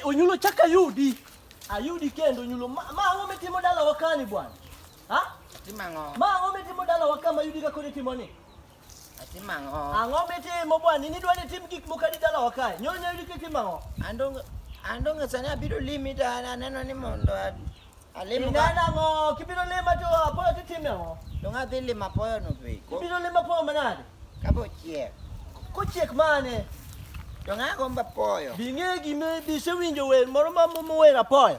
onyulo chak ayudi ayudi kendo onyulo ma ang'o mitimo dala wakani bwana ma ang'o mitimo dala waka mayudi kakoni timoni Atimo ang'o? Ang'o mitimo bwana? In idwa ni tim gik moko adi dalawa kae? Nyonya yudo kitimo ang'o? Andong' andong' sani abiro limi to an- aneno ni mondo a- alim ka. Ineno ang'o? Kibiro lima to apoyo titimo ang'o? Dong' adhi limo apoyo no be. Ko- Kibiro lima apoyo manade? Ka bo chiek. Kochiek mane? Dong' agombo apoyo. Bing'e gime bisewinjo wer moro ma momo wer apoyo.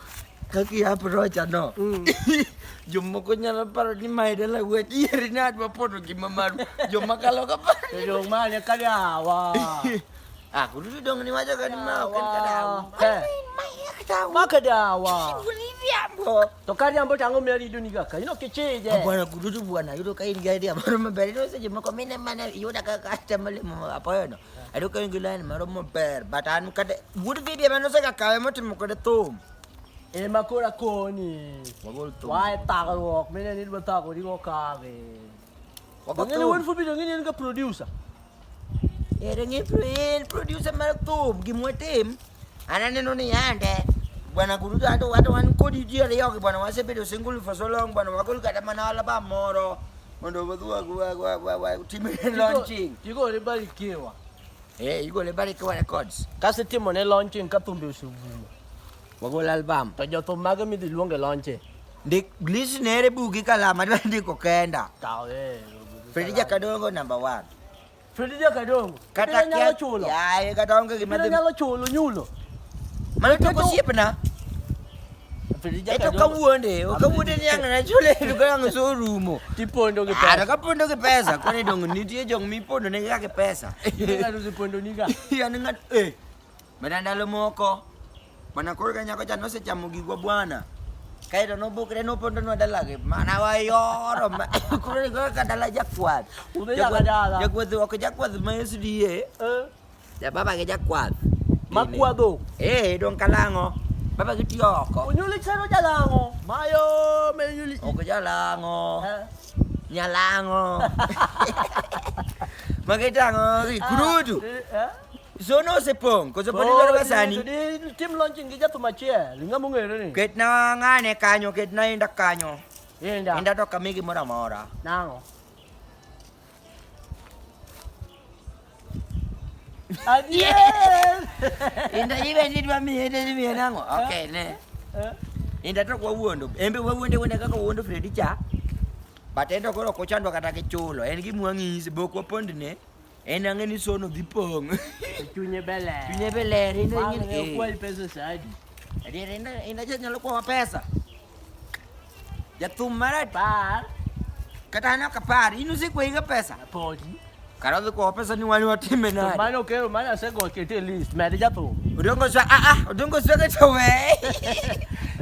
Kaki aprocha no. Mm. Jomoko nyalo paro ni mae dala wuod ieri ne adwa pono gima maru. Joma kalo ka paro. To jong mane ka dawa. Ah, kudu dong ni wajo kan ma kan ka dawa. Eh. Ma ka dawa. To ka riambo tango me rido ni kaka. Ino kichije. Bwana kudu bwana yudo ka in gari amaro maber. Ino seche moko mine mana yuda ka ka tamale mo apoyo no. Aduh kau gila ni maro mo ber batan kada good video mano sa kakawe mo timo kada tum. Eh makura ko ni. Magol tum. Wai takal wok mena ni ba takal di ko kare. Wako Ngene tum. won fu video ngene ka producer. Eh rengi friend producer maro tum gimwe tim. Ana neno ni yande. Bwana kurutu hata watu wankodi jia leo bwana wasepedo single for so long bwana wakol kada manala ba moro. Ndio badua kwa kwa kwa kwa timu ne launching. Tigo ne bali kewa. Eh, igo ne bali kewa records. Kasi timu ne launching ka tumbe usubumo. Wagol album. To jo thum mage midhi luonge launching. Ndik list ne re bugi kalama ndiko kenda. Tawe. Fredija Kadongo number 1. Fredija Kadongo. Kata nyalo chulo. Yaye kata onge gima dhi. Nyalo chulo nyulo. Mano to kosiepna. Fredija Kadongo. Eto kawuonde, okawuonde ni ang' na chule to ka ang' so rumo. Tipondo gi pesa. Ara kapondo gi pesa, koni dong nitie jong mipondo ne ga gi pesa. Ng'ato sipondo ni ga. Yan ng'at eh. Mana ndalo moko mana koro ka nyako cha nosechamo gigwa bwana kaeto nobukre nopondonwa dalagi mana wayoro ma- koro ni kaka dala jakwath Udhi nyaka dala. jakwath ok jakwath ma SDA Eh, jababa gi jakwath makwadho eh dong kalang'o baba gi tiyo oko onyuoli chero jalang'o mayo menyuli ok jalang'o nyalang'o magitang'o gi kurudu Zono osepong' koso pod idwaro ga sani? Tim launching gi jathum achiel, ng'a mong'ere ni? Ketna ng'ane kanyo, ketna inda kanyo. Inda. Inda to kami gimoro amora. Nang'o? Adier! Inda ibe ni dwa miye ne miye nang'o? Eh? Okay, ne. Eh? Inda to kwa wuondo. Embe wa wuonde wuonde kaka wuondo Freddy cha. But endo koro kuchandwa kata kichulo. En gimwang'isi bokwa pondne. En ang'e ni sono dhi pong'. Chunye be ler. Chunye be ler. En ang'e ni okwal pesa sadi. Adier en en aja nyalo kwawa pesa. Jathum mar apar. Kata an ok apar. In usekwayiga pesa. Podi. Kara odhi kwawa pesa ni wan watime nade. To mano kero mano asegokete e list. Med jathum. Odongo swa ah ah odongo swa to we.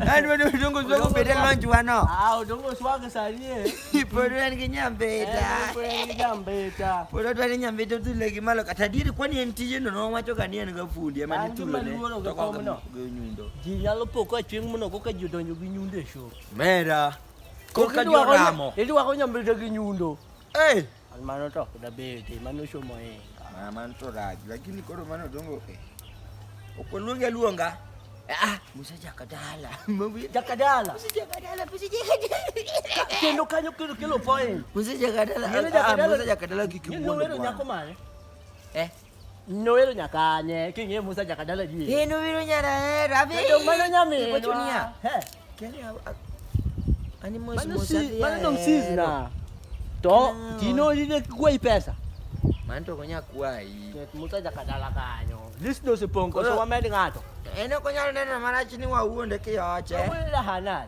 An wedo odongo swa obed e lonjwa no. Ah odongo swa sani e. Iporwani kinyambeta. Nyambeta. Porwani nyambeta tule kimalo katadiri kwani en tije no nowacho kani en gafundi ema An nitulo ne. gimaluoro gi Toko komno. gi nyundo. Ji nyalo po ka chieng' mono koka ji odonjo gi nyundo e show. Mera. Koka Idwaro- joramo. Idwaro nyambeta gi nyundo. Eh, Mano to ok dabeyo te, mano shomo e. Ma mano to raj, lakini koro mano dongo e. Ok oluongi aluonga. Ah, Musa jakadala. Jakadala. Musa jakadala, Musa jakadala. Kendo kanyo kelo kelo point. Musa jakadala. Musa jakadala kikimwongo. Nyako mane? Eh. Nowero nyaka anye king'e Musa nyaka dala ji. Eh nowero nyara eh rabi. Kendo mano nyaminwa. Iwacho niya. He. Kenya ani mos Mano mos si, adhi mano dong sis ahero. na. To No. tino ine kwayi pesa. Mano to okonya kwayi. Ket Musa nyaka dala kanyo. List no sipong koso Koro- wamed ng'ato. En ok onyalo neno marach ni wawuonde kiyoche. Awuoyo na Hanan.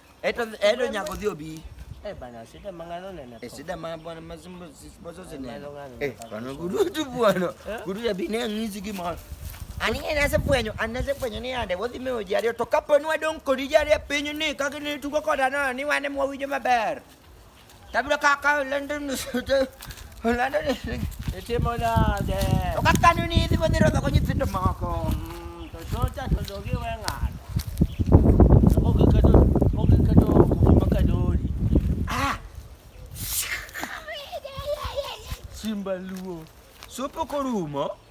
Eto eto nyako dhio bi. Eh bana, shida mangano nene. Eh shida ma bwana mazimbo sipozo zene. Eh bwana gudu tu bwana. Eh? Gudu ya bine ngizi ki ma. Ani ene se bwenyo, ani se bwenyo ni ande wodi me oji ario to kapo nwa don kodi jari pinyo ni kaki ni tuko koda na ni wane mwa wijo maber. Tabi kaka London ni sute. London ni. Ete mona de. Okaka ni ni dibo diro da konyi tindo mako. Mm, to so ta to do gi wenga. Ko ke ka do, ko ke ka do, ko ma ka do. Ah. Simba luo. Supo korumo.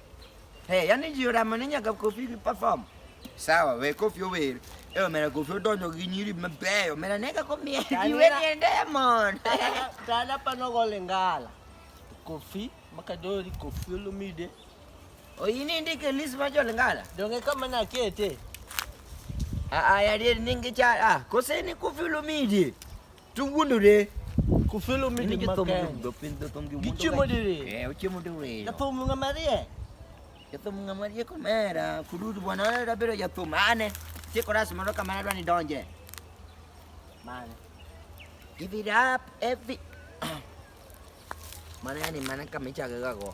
Hey, yani ji oramo ni nyaka kofi gi perform. Sawa, we kofi ower. E omera kofi odonjo gi nyiri mabeyo. Omera nega komiye ji we ni diamond. Tala pano gole ngala. Kofi makadori kofi olumide. Oyini ndike list ma jole ngala. Donge kama na kete. Ah ah yari ningi cha ah koseni kofi olumide. Tu wulu re. Ku filo mi di makan. Gichi mo di re. Eh, uchi mo di re. Ya to mo nga maria. Ya to mo nga maria ko mera. Kududu bwana na rabero ya to mane. Ti ko ras mano kamera dwani donje. Mane. Give it up every. Mana ni mana kamicha gago.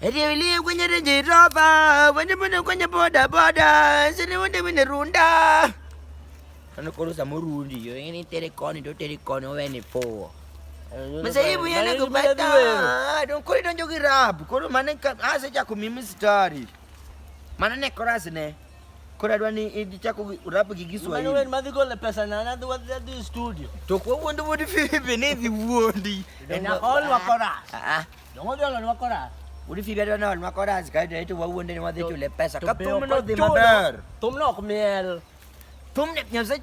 Etewilie kwenye Range Rover, wende mbona kwenye boda boda, sini wende wende runda. Kana korosa murundi yo, ini telekoni do telekoni weni po. Masaibu yana kupata. Don kuri don jogi rap, kuri mane ka ase cha kumimi story. Mana ne korasi ne. Kura dwani idi cha ku rap gi Kiswahili. Mane madhi gole pesa na na dwa dwa studio. To ko wondu wodi fibi ne dhi wondi. Na all wa korasi. Ah. ah. Dongo dolo lwa koras. Uri figa dwa nol makoras ka dwa itu wawuon deni wadhi chule pesa. Ka thum no dhi maber. Thum no ok miel. Thum ne nyose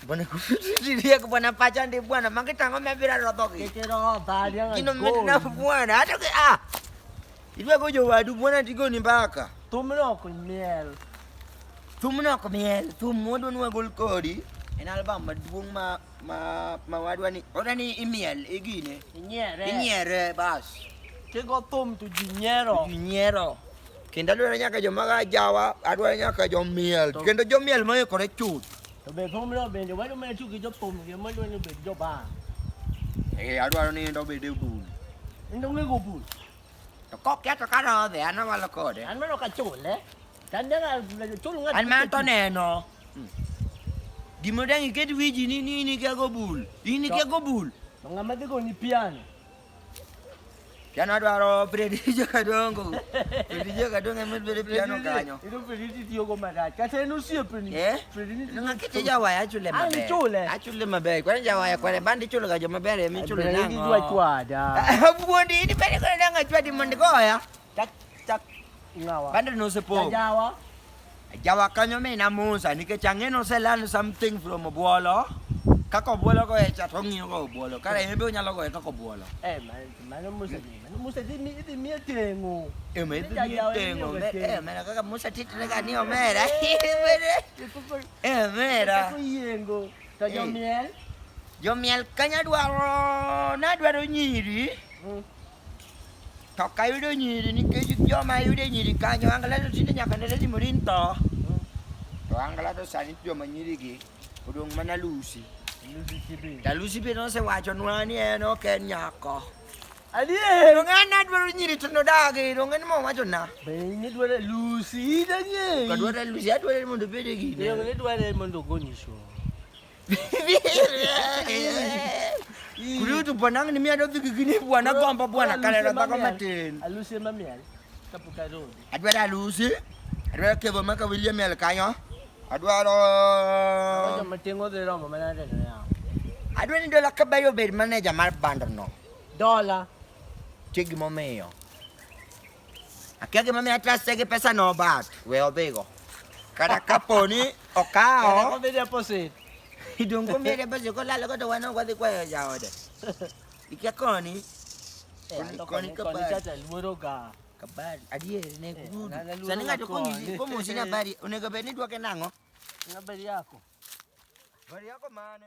Bwana kufikiria bwana pacha ndi bwana mangitango mebira rodhogi. Kitero dhali. Kino mna bwana hata ah. Ilwa gojo wadu bwana tigoni mbaka. Thum no ok miel. Thum no ok miel. Thum mondo nwa gol kodi. En album maduong' ma ma ma wadwa ni oda ni imiel igine Inyiere. inyiere bas Tigo thum to ji nyiero. ji nyiero kendo adwaro nyaka joma ga jawa adwaro nyaka jomiel To- kendo jomiel moikore chuth To be thumno bende wadwa mana tiyo gi jothum gi madwa ni obed jobaa. eh adwaro ni endo bede bul Endo ng'ego bul. to koketho ka rodhe an awalo kode An mano ka chule. Tandega chulu ng'at. An ma to neno. Gima dang iket wiji ni ni ni kia gobul. Ni ni kia gobul. Ng'ama dhi goni piano. Piano dwaro predije kadongo. Predije kadongo emit bere piano kanyo. Ino predije tiyo go marach. Kata en osiepni. Eh? Predije. Nga kiti jawaya achule maber. Ani chule. Achule maber. Kwani jawaya kwani bandi chule ga joma ber emi chule nango. Predije dwa chwada. Buondi ni bere kwani nango chwadi mondi goya. Chak chak ngawa. Bande no se po. Jawa. Jawa kanyo me na musa nikech ang'e no se learn something from Obuolo. Kaka Obuolo go e chat ong'iyo go Obuolo. Kare en be onyalo go e kaka Obuolo. Eh man, mano musa ni. Mano musa di mi di mi tengo. E me Ni dhi jajawa ni tengo. obe tengo. Eh mera kaka Musa titre ka ni omera. Kuko Eh mera. kuko yengo. To Eh. jo miel. Jomiel kanya dwaro na dwaro nyiri. Mm. Toka yudo nyiri nikech joma yudo e nyiri kanyo angla to tinde nyaka ne lady morin tho. To angla to sani joma nyiri gi odong' mana lusi. Ta lusi be nosewacho nwa ni en ok en nyako. Adier. To ng'an adwaro nyiri to nodagi to ng'an mo wacho na. Be ni dware lusi idanye. Kadwaro lusi adwaro mondo obed e gine. Yo ni dware mondo ogonyisho. Kulitu bwanangu ni mia dozi kikini bwana kwamba bwana kalera bako mateni. Aluse mami ali. Kapuka road. Adwa da aluse. Adwa kevo maka William ali kanyo. Adwa ro. Adwa matengo de romo mana de na. Adwa ni dola kabayo ber manager mar bandar no. Dola. Chegi momeyo. Akia gima mi atrase gi pesa no but we odhigo. Kata kapo ni okawo. Kata kombe deposit. Idongo mi deposit kolalo godo wan ok wadhi kwayo jaode. Ikia koni. Eh, koni kabari. Koni luoro ga. Kabari. Adier ne eh, kududu. Sani ng'ato konyisi komosi na bari onego bed ni duoke nang'o? Na bari yako. Bari yako mane?